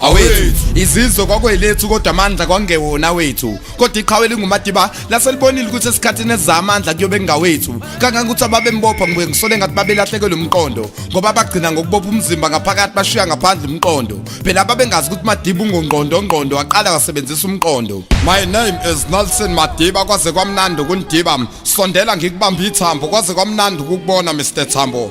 awethu izizwe kwakwelethu kodwa amandla kwangewona wethu kodwa iqhawe lingumadiba laselibonile ukuthi esikhathini esiza amandla kuyobe kungawethu kangangokuthi ababembopha ngibuye ngisole ngathi babelahlekelwe umqondo ngoba bagcina ngokubopha umzimba ngaphakathi bashiya ngaphandle umqondo phela ababengazi ukuthi madiba ungongqondo ngqondo waqala wasebenzisa umqondo my name is Nelson Madiba kwaze kwamnandi ukundiba sondela ngikubamba ithambo kwaze kwamnandi ukukubona Mr Thambo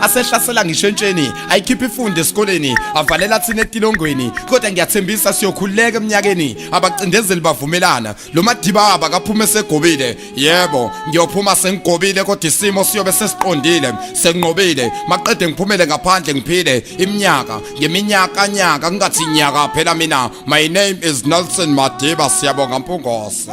asehlasela ngisho entsheni ayikhiphe ifunde esikoleni avalela thina etilongweni kodwa ngiyathembisa siyokhululeka eminyakeni abacindezeli bavumelana lo madiba abakaphuma esegobile yebo ngiyophuma sengigobile kodwa isimo siyobe sesiqondile senginqobile maqede ngiphumele ngaphandle ngiphile iminyaka ngeminyaka nyaka kungathi nyaka phela mina my name is Nelson Madiba siyabonga mpungose